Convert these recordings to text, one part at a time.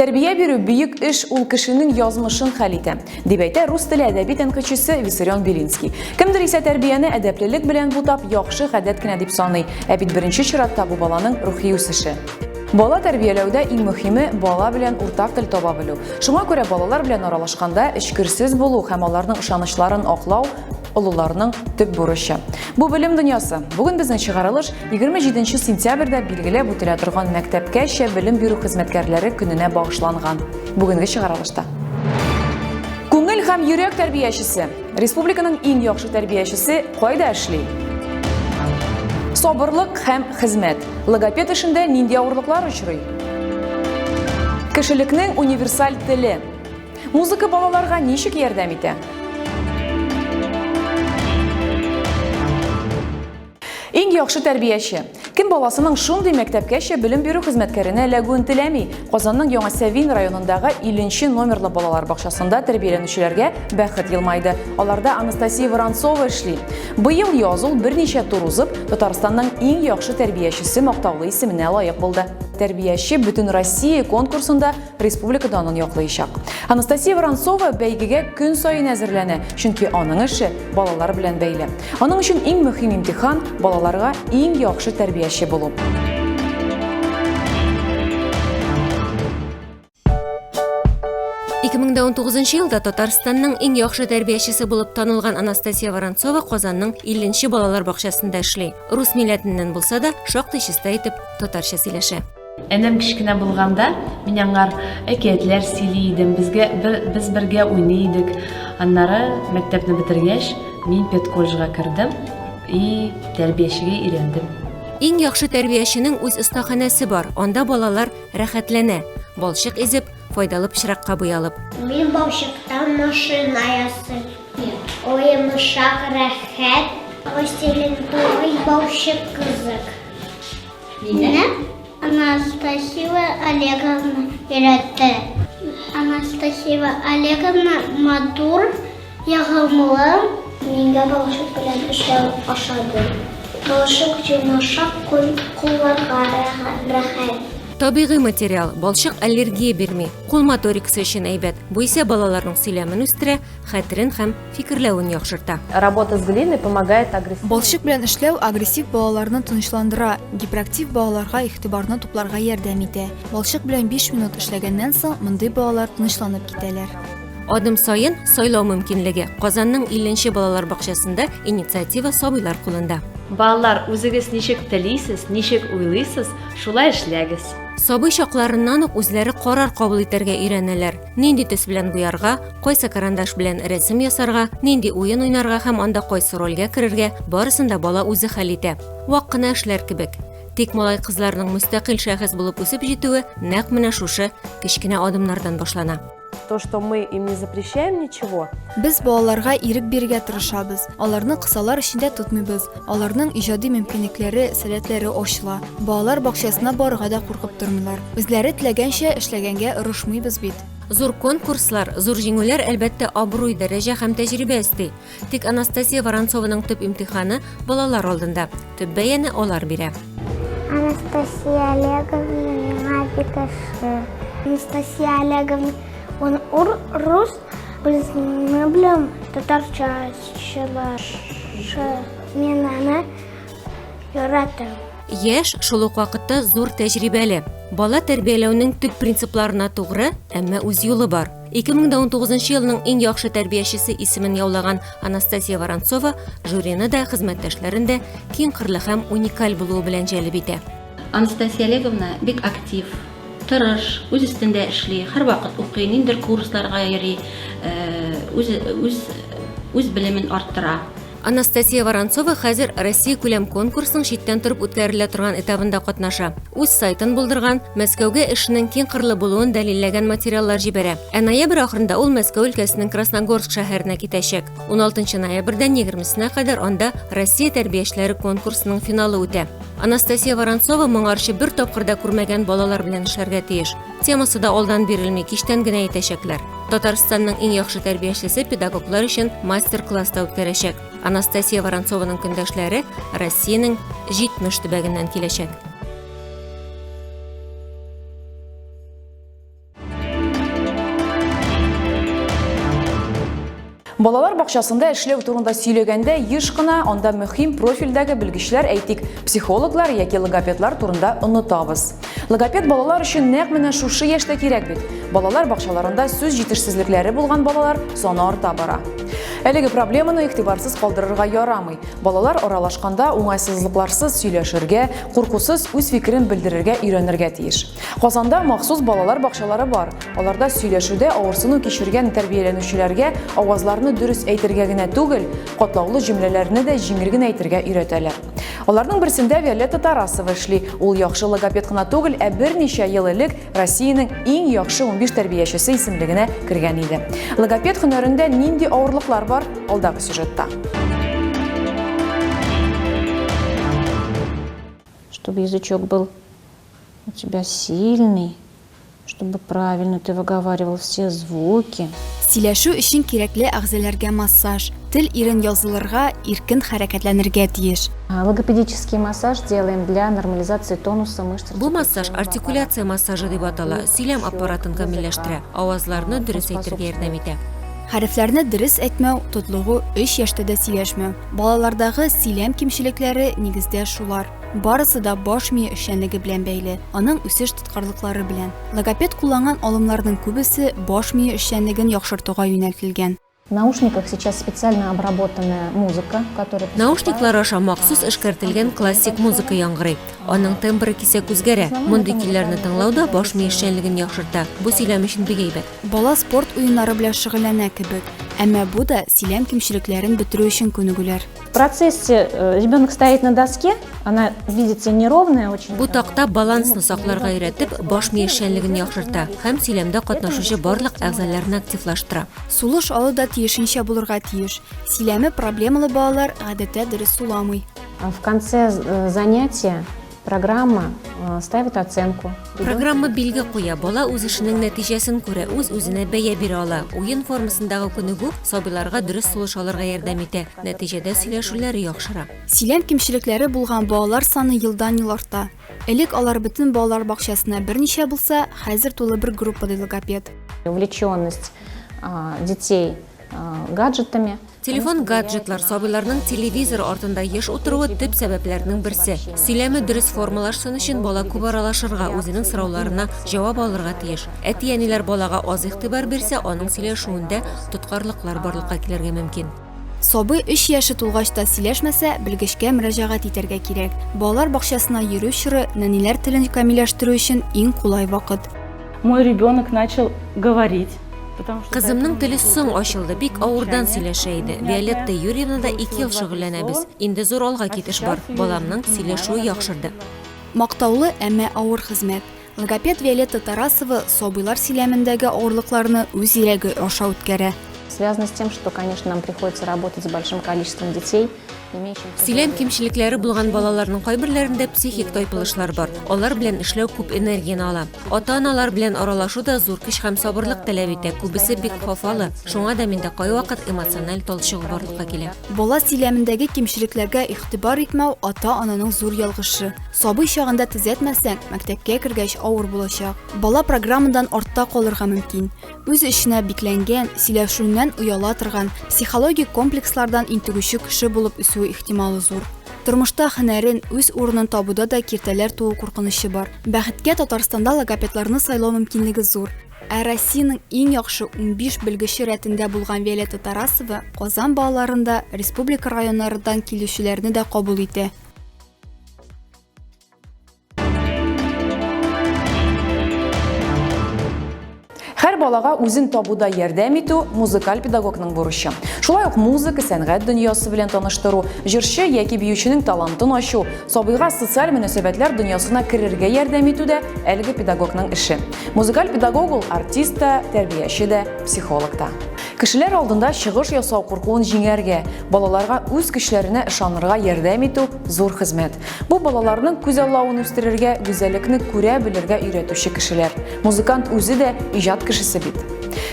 Тәрбия бирү бөек эш, ул кешенең язмышын хәл итә, дип әйтә рус теле әдәби тәнкыйтьчесе Виссарион Белинский. Кемдер исә тәрбияне әдәплелек белән бутап, яхшы гадәт кенә дип саный, ә бит беренче чиратта бу баланың рухи үсеше. Бала тәрбияләүдә иң мөһиме, бала белән уртак тел таба белү. Шуңа күрә балалар белән аралашканда, эчкерсез булу һәм аларның ышанычларын аклау, олыларның төп бурычы. Бу белем дөньясы. Бүген безнең чыгарылыш 27 сентябрьдә билгеләп үтелә торган мәктәпкәчә белем бирү хезмәткәрләре көненә багышланган. Бүгенге чыгарылышта Күңел һәм йөрәк тәрбиячесе. Республиканың иң яхшы тәрбиячесе кайда эшли? Сабырлык һәм хезмәт. Логопед эшендә нинди авырлыклар очрый? Кешелекнең универсаль теле. Музыка балаларга ничек ярдәм итә? Иң яхшы тәрбияче. Кем баласының шундый мәктәпкәчә белем бирү хезмәткәренә эләгүен теләми? Казанның Яңа Сәвин районындагы 50 номерлы балалар бакчасында тәрбияләнүчеләргә бәхет елмайды. Аларда Анастасия Воронцова эшли. Быел яз ул берничә тур узып, Татарстанның иң яхшы тәрбиячесе мактаулы исеменә лаек булды. Тәрбияче бөтен Россия конкурсында республика данын яклыйчак. Анастасия Воронцова бәйгегә көн саен әзерләнә, чөнки аның эше балалар белән бәйле. Аның өчен иң мөһим имтихан балаларга иң яхшы тәрбияче булу. Ике мең дә унтугызынчы елда Татарстанның иң яхшы тәрбиячесе булып танылган Анастасия Воронцова Казанның илленче балалар бакчасында эшли. Рус милләтеннән булса да, шактый чиста итеп татарча сөйләшә. Энем кечкенә булганда, мин аңар әкиятләр сөйли идем, безгә, бер, без бергә уйный идек. Аннары, мәктәпне бетергәч, мин педколледжга кердем и тәрбиячегә өйрәндем. Иң яхшы тәрбияченең үз остаханәсе бар, анда балалар рәхәтләнә, балчык изеп, файдалы пычракка буялып. Мин балчыктан машина ясыйм. Уенмышак рәхәт. Пластилин тугый, балчык кызык. Мине Анастасия Олеговна өйрәтте. Анастасия Олеговна матур, ягымлы. Миңа балчык белән эшләү ошады. Балчык йомшак, кулларга рәхәт. Табигый материал, балчык аллергия бирми, кул моторикасы өчен әйбәт. Бу исә балаларның сөйләмен үстерә, хәтерен һәм фикерләвен яхшырта. Работа с глиной помогает агрессив. Балчык белән эшләү агрессив балаларны тынычландыра, гиперактив балаларга игътибарны тупларга ярдәм итә. Балчык белән 5 минут эшләгәннән соң мондый балалар тынычланып китәләр. Адым саен сайлау мөмкинлеге. Казанның 50 балалар бакчасында инициатива сабыйлар кулында. Балалар, үзегез ничек телисез, ничек уйлыйсыз, шулай эшләгез. Сабый чакларыннан ук үзләре карар кабул итәргә өйрәнәләр. нинди төс белән буярга, кайсы карандаш белән рәсем ясарга, нинди уен уйнарга һәм анда кайсы рольгә керергә, барысын да бала үзе хәл итә. Вак кына эшләр кебек. Тик малай-кызларның мөстәкыйль шәхес булып үсеп җитүе нәкъ менә шушы кечкенә адымнардан башлана. То, что мы им не запрещаем ничего. Без балаларга ирек бирергә тырышабыз, аларны кысалар эчендә тотмыйбыз. Аларның иҗади мөмкинлекләре, сәләтләре ачыла. Балалар бакчасына барырга да куркып тормыйлар. Үзләре теләгәнчә эшләгәнгә орышмыйбыз бит. Зур конкурслар, зур җиңүләр, әлбәттә, абруй, дәрәҗә һәм тәҗрибә өсти. Тик Анастасия Воронцованың төп имтиханы балалар алдында. Төп бәяне алар бирә. Анастасия Олеговна миңа бик ошый. Анастасия Олеговна, ун рус Без не беләм татарчачылар. Мин аны яратам. Яш шул ук вакытта зур тәҗрибәле. Бала тәрбияләүнең төп принципларына тугры, әмма үз юлы бар. 2019 елның иң яхшы тәрбиячесе исемен яулаган Анастасия Воронцова жюрины да, хезмәттәшләрен дә киң кырлы һәм уникаль булуы белән җәлеп итә. Анастасия Олеговна бик актив, тырыш, үз өстендә эшли, һәрвакыт укый, ниндер курсларга йөри, үз, үз, үз белемен арттыра. Анастасия Воронцова хәзер Россия күләм конкурсның читтән торып үткәрелә торган этабында катнаша. Үз сайтын булдырган, Мәскәүгә эшенең киң кырлы булуын дәлилләгән материаллар җибәрә. Ә ноябрь ахырында ул Мәскәү өлкәсенең Красногорск шәһәренә китәчәк. 16 ноябрьдән 20 кадәр анда Россия тәрбиячеләре конкурсының финалы үтә. Анастасия Воронцова моңарчы бер тапкыр да күрмәгән балалар белән эшләргә тиеш. Темасы да алдан бирелми, киштән генә әйтәчәкләр. Татарстанның иң яхшы тәрбиячесе педагоглар өчен мастер-класс та үткәрәчәк. Анастасия Воронцованың көндәшләре Россиянең 70 төбәгеннән киләчәк. Балалар бакчасында эшләү турында сөйләгәндә еш кына анда мөһим профильдәге белгечләр әйтик, психологлар яки логопедлар турында онытабыз. Логопед балалар өчен нәкъ менә шушы яшьтә кирәк бит. Балалар бакчаларында сүз җитешсезлекләре булган балалар саны арта бара. Әлеге проблеманы игътибарсыз калдырырга ярамый. Балалар аралашканда уңайсызлыкларсыз сөйләшергә, куркусыз үз фикерен белдерергә өйрәнергә тиеш. Казанда махсус балалар бакчалары бар. Аларда сөйләшүдә авырсыну кичергән тәрбияләнүчеләргә авазларны дөрес әйтергә генә түгел, катлаулы җөмләләрне дә җиңел генә әйтергә өйрәтәләр. Аларның берсендә Виолетта Тарасова эшли. Ул яхшы логопед кына түгел, ә берничә ел элек Россиянең иң яхшы унбиш тәрбиячесе исемлегенә кергән иде. Логопед һөнәрендә нинди авырлыклар бар, алдагы сюжетта. Чтобы язычок был У тебя сильный, чтобы правильно ты выговаривал все звуки. Сөйләшү өчен кирәкле әгъзаләргә массаж, тел ирен язылырга, иркен хәрәкәтләнергә тиеш. Логопедический массаж делаем для нормализации тонуса мышц. Бу массаж артикуляция массажы дип атала, сөйләм аппаратын камилләштерә, авазларны дөрес әйтергә ярдәм итә. Хәрефләрне дөрес әйтмәү, тотлыгу, 3 яшьтә дә сөйләшмәү. Балалардагы сөйләм кимчелекләре нигездә шулар. Барысы да баш мие эшчәнлеге белән бәйле, аның үсеш тоткарлыклары белән. Логопед кулланган алымнарның күбесе баш мие эшчәнлеген яхшыртуга юнәлтелгән. наушниках сейчас специально обработанная музыка, которая поступает- Наушниклар аша махсус эшкәртелгән классик музыка яңгырый. Аның тембры кисәк үзгәрә. Мондый көйләрне тыңлау да баш мие эшчәнлеген яхшырта. Бу сөйләм өчен бик әйбәт. Бала спорт уеннары белән шөгыльләнә кебек. Әмма бу да сөйләм кимчелекләрен бетерү өчен күнегүләр. процессе э, ребенок стоит на доске, она, видите, неровная очень. Бу такта балансны сакларга өйрәтеп, баш ми эшчәнлеген яхшырта һәм сөйләмдә катнашучы барлык әгъзаларны активлаштыра. Сулыш алу да тиешенчә булырга тиеш. Сөйләме проблемалы балалар гадәттә дөрес суламый. В конце э, занятия Программа э, ставит оценку. Программа билге куя, бала үз эшенең нәтиҗәсен күрә, үз үзенә бәя бирә ала. Уен формасындагы күнегү сабыйларга дөрес сулыш алырга ярдәм итә. Нәтиҗәдә сөйләшүләре яхшыра. Сөйләм кимчелекләре булган балалар саны елдан-ел арта. Элек алар бөтен балалар бакчасына берничә булса, хәзер тулы бер группа ди логопед. Увлеченность детей гаджетами. Телефон, гаджетлар, сабыйларның телевизор артында еш утыруы төп сәбәпләрнең берсе. Сөйләме дөрес формалашсын өчен бала күп аралашырга, үзенең сорауларына җавап алырга тиеш. Әти-әниләр балага аз игътибар бирсә, аның сөйләшүендә тоткарлыклар барлыкка килергә мөмкин. Сабый 3 яше тулгач та сөйләшмәсә, белгечкә мөрәҗәгать итәргә кирәк. Балалар бакчасына йөрү чоры нәниләр телен камилләштерү өчен иң кулай вакыт. Мой ребенок начал говорить. Кызымның теле соң ачылды, бик авырдан сөйләшә иде. Виолетта Юрьевна да ике ел шөгыльләнәбез. Инде зур алга китеш бар. Баламның сөйләшүе яхшырды. Мактаулы, әмма авыр хезмәт. Логопед Виолетта Тарасова сабыйлар сөйләмендәге авырлыкларны үз ирәге аша үткәрә. Связано с тем, что, конечно, нам приходится работать с большим количеством детей. Сөйләм кимчелекләре булган балаларның кайберләрендә психик тайпылышлар бар. Алар белән эшләү күп энергияне ала. Ата-аналар белән аралашу да зур көч һәм сабырлык таләп итә. Күбесе бик хафалы. Шуңа да миндә кайвакыт эмоциональ талчыгу барлыкка килә. Бала сөйләмендәге кимчелекләргә игътибар итмәү ата-ананың зур ялгышы. Сабый чагында төзәтмәсәң, мәктәпкә кергәч авыр булачак. Бала программадан артта калырга мөмкин. Үз эченә бикләнгән, сөйләшүеннән ояла торган, психологик комплекслардан интегүче кеше булып үсү ихтималы зур. Тормышта һөнәрен, үз урынын табуда да киртәләр туу куркынычы бар. Бәхеткә, Татарстанда логопедларны сайлау мөмкинлеге зур. Ә Россиянең иң яхшы унбиш белгече рәтендә булган Виолетта Тарасова Казан балаларын да, республика районнарыдан килүчеләрне дә кабул итә. Һәр балага үзен табуда ярдәм итү музыкаль педагогның бурычы. Шулай ук музыка, сәнгать дөньясы белән таныштыру, җырчы яки биюченең талантын ачу, сабыйга социаль мөнәсәбәтләр дөньясына керергә ярдәм итү дә әлеге педагогның эше. Музыкаль педагог ул артист та, тәрбияче дә, психолог та. Кешеләр алдында чыгыш ясау куркуын җиңәргә, балаларга үз көчләренә ышанырга ярдәм итү зур хезмәт. Бу балаларның күз аллавын үстерергә, гүзәлекне күрә белергә өйрәтүче кешеләр. Музыкант үзе дә иҗат кешесе бит.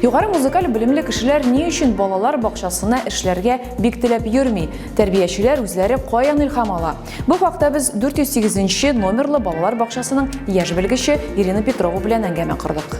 Югары музыкаль белемле кешеләр ни өчен балалар бакчасына эшләргә бик теләп йөрми? Тәрбиячеләр үзләре каян илһам ала? Бу хакта без 408 нче номерлы балалар бакчасының яшь белгече Ирина Петрова белән әңгәмә кордык.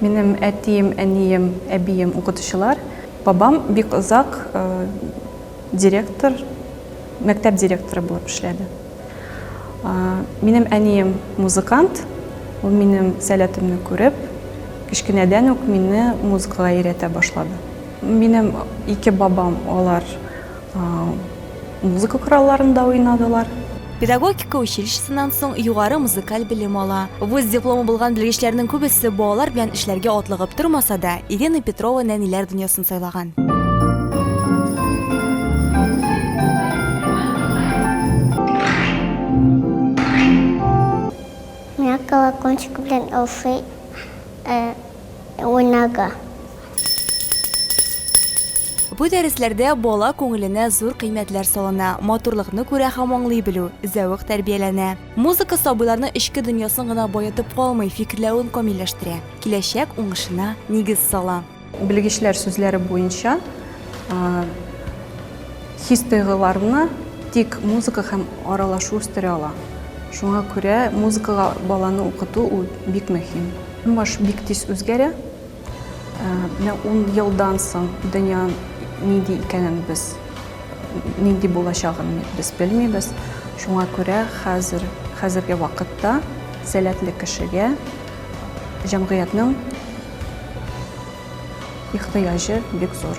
Минем әтием, әнием, әбием укытучылар. Бабам бик озак директор, мәктәп директоры булып эшләде. Минем әнием музыкант, ул минем сәләтемне күреп, кечкенәдән үк мине музыкага өйрәтә башлады. Минем ике бабам, алар Музыка коралларында уйнадылар. Педагогика училищесыннан соң югары музыкаль белем ала. Вуз дипломы булган белгечләрнең күбесе балалар белән эшләргә атлыгып тормаса да, Ирина Петрова нәниләр дөньясын сайлаган. Миңа колокольчик белән алсый уйнарга. Бу дәресләрдә бала күңеленә зур кыйммәтләр салына, матурлыкны күрә һәм аңлый белү, зәвык тәрбияләнә. Музыка сабыйларның эчке дөньясын гына баетып калмый, фикерләвен камилләштерә, киләчәк уңышына нигез сала. Белгечләр сүзләре буенча, хис-тойгыларны тик музыка һәм аралашу үстерә ала. Шуңа күрә музыкага баланы укыту ул бик мөһим. Тормыш бик тиз үзгәрә. Менә ун елдан соң дөнья нинди икәнен без, нинди булачагын без белмибез. Шуңа күрә хәзер, хәзерге вакытта сәләтле кешегә җәмгыятьнең ихтыяҗы бик зур.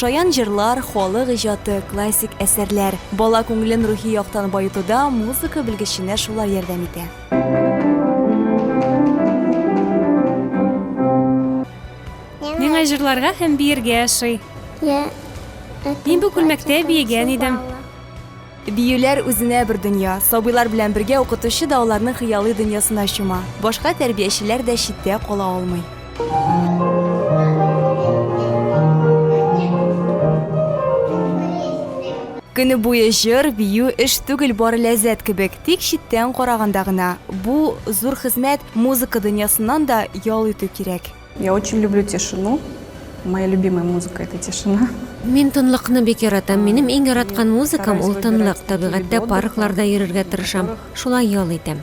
Шаян җырлар, халык иҗаты, классик әсәрләр. Бала күңелен рухи яктан баетуда музыка белгеченә шулар ярдәм итә. Миңа җырларга һәм биергә ошый. Мин бу күлмәктә биегән идем. Биюләр үзенә бер дөнья, сабыйлар белән бергә укытучы да аларның хыялый дөньясына чума, башка тәрбиячеләр дә читтә кала алмый. Көне буе җыр, бию, эш түгел, бары ләззәт кебек, тик читтән караганда гына, бу, зур хезмәт, музыка дөньясыннан да ял итү кирәк. Я очень люблю тишину. Моя любимая музыка это тишина. Мин тынлыкны бик яратам. Минем иң яраткан музыкам ул тынлык. Табигатьтә паркларда йөрергә тырышам. Шулай ял итәм.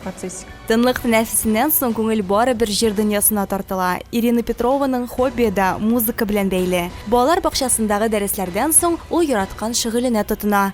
Тынлык тәнәфесеннән соң күңел бары бер җыр дөньясына тартыла. Ирина Петрованың хоббие да музыка белән бәйле. Балалар бакчасындагы дәресләрдән соң ул яраткан шөгыленә тотына.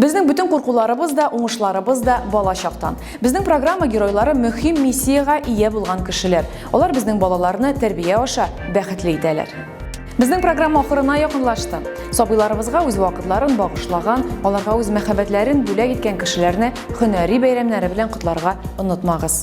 Безнең бүтән куркуларыбыз да, уңышларыбыз да бала чактан. Безнең программа геройлары мөһим миссиягә ия булган кешеләр. Алар безнең балаларны тәрбия аша бәхетле итәләр. Безнең программа ахырына якынлашты. Сабыйларыбызга үз вакытларын багышлаган, аларга үз мәхәббәтләрен бүләк иткән кешеләрне һөнәри бәйрәмнәре белән котларга онытмагыз.